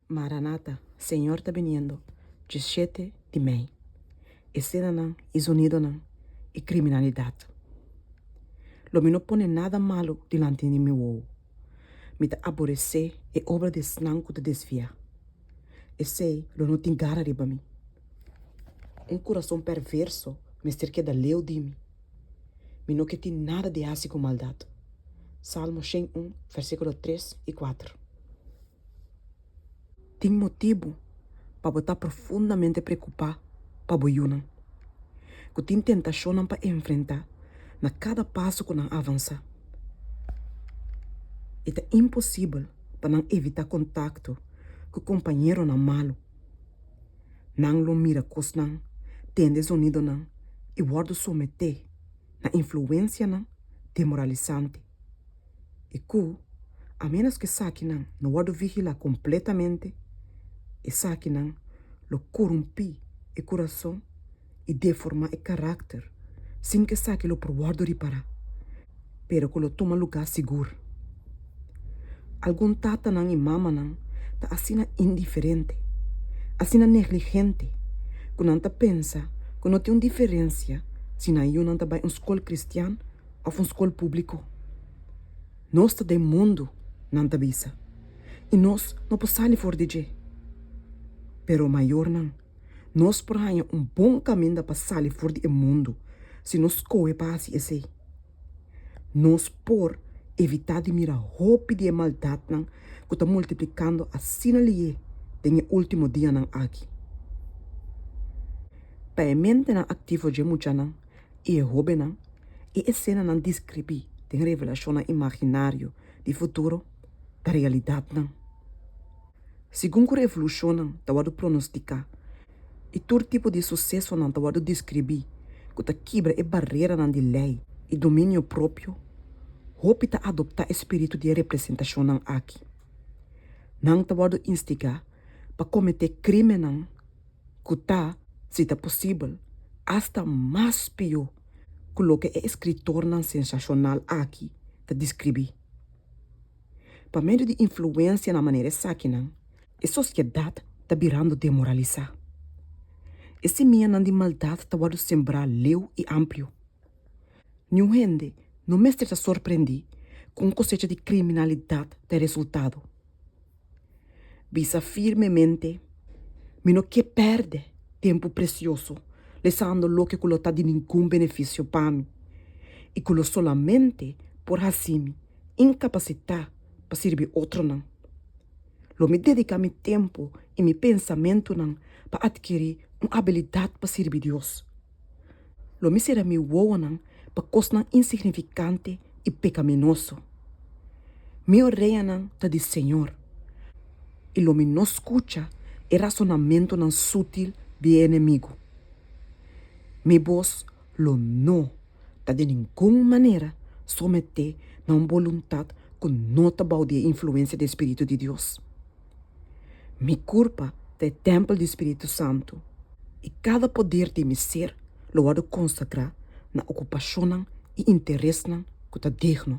Maranata, Señor ta biniendo, djishete di mei e senanan i zonidonan i kriminalidat. Lo mi no pone nada malu dilanti di mi wou. Mi ta aboresé e obra di esnan ku ta desviá. Esei lo no tin gara riba mi. Un kurason perverso mester keda leu di mi. Mi no ke tin nada di hasi ku maldat. Salmo shen un, versíkulo tres i kuater. Tin motibu pa bo ta profundamente preokupá pa bo yunan, ku tin tentashonnan pa enfrentá na kada paso ku nan avansá. E ta imposibel pa nan evitá kontakto ku kompañeronan malu. Nan lo mira kosnan, tende zonidonan i wòrdu someté na influensianan demoralisante. i ku a ménos ku esakinan no wòrdu vigilá kompletamente, esakinan lo korumpí e kurason i deformá e karakter sin ku esaki lo por wòrdu ripará, pero ku lo tuma lugá sigur. Algun tatanan i mamanan ta asina indiferente, asina negligente ku nan ta pensa ku no tin un diferensia si nan yunan ta bai un skol kristian, òf un skol públiko. Nos ta den mundu, nan ta bisa, i nos no por sali for di dje. Pero, mayornan, nos por haña un bon kaminda pa sali for di e mundu si nos skohe pa hasi esei. Nos por evitá di mira hopi di e maldatnan ku ta multiplikando asina lié den e último dianan aki. Pa e mentenan aktivo dje muchanan I e hóbennan i e senanan deskribí den revelashonnan imaginario di futuro ta realidatnan. Segun ku revolushonnan ta wòrdu pronostiká i tur tipo di susesonan ta wòrdu deskribí ku ta kibra e bareranan di lei i dominio propio, hopi ta adoptá e spiritu di e representashonnan aki. Nan ta wòrdu instigá pa kometé krímennan ku ta, si ta posibel, asta mas pió ku loke e eskritornan sensashonal aki ta diskribí. Pa medio di influensia na manera esakinan, e sosiedat ta birando demoralisá. E simianan di maldat ta wòrdu sembrá leu i amplio. Niun hende no mester ta sorprendí ku un kosecha di kriminalidat ta e resultado. Bisa firmemente, Mi no ke pèrdè tempu presioso lesando loke ku lo ta di ningun benefisio pa mi i ku lo solamente por hasi mi inkapasitá pa sirbi otronan. Lo mi dediká mi tempu i mi pensamentunan pa atkirí un abilidat pa sirbi Dios. Lo mi sera mi wowonan pa kosnan insignifikante i pekaminoso. Mi oreanan ta di Señor, i lo mi no skucha e rasonamentunan sútil di e enemigu. Mi bos lo no ta den ningun manera someté na un boluntat ku no ta bou di e influensia di e Spiritu di Dios. Mi kurpa ta e tèmpel di spiritu santu, i kada poder di mi ser lo wòrdu konsagrá na okupashonnan i interesnan ku ta digno.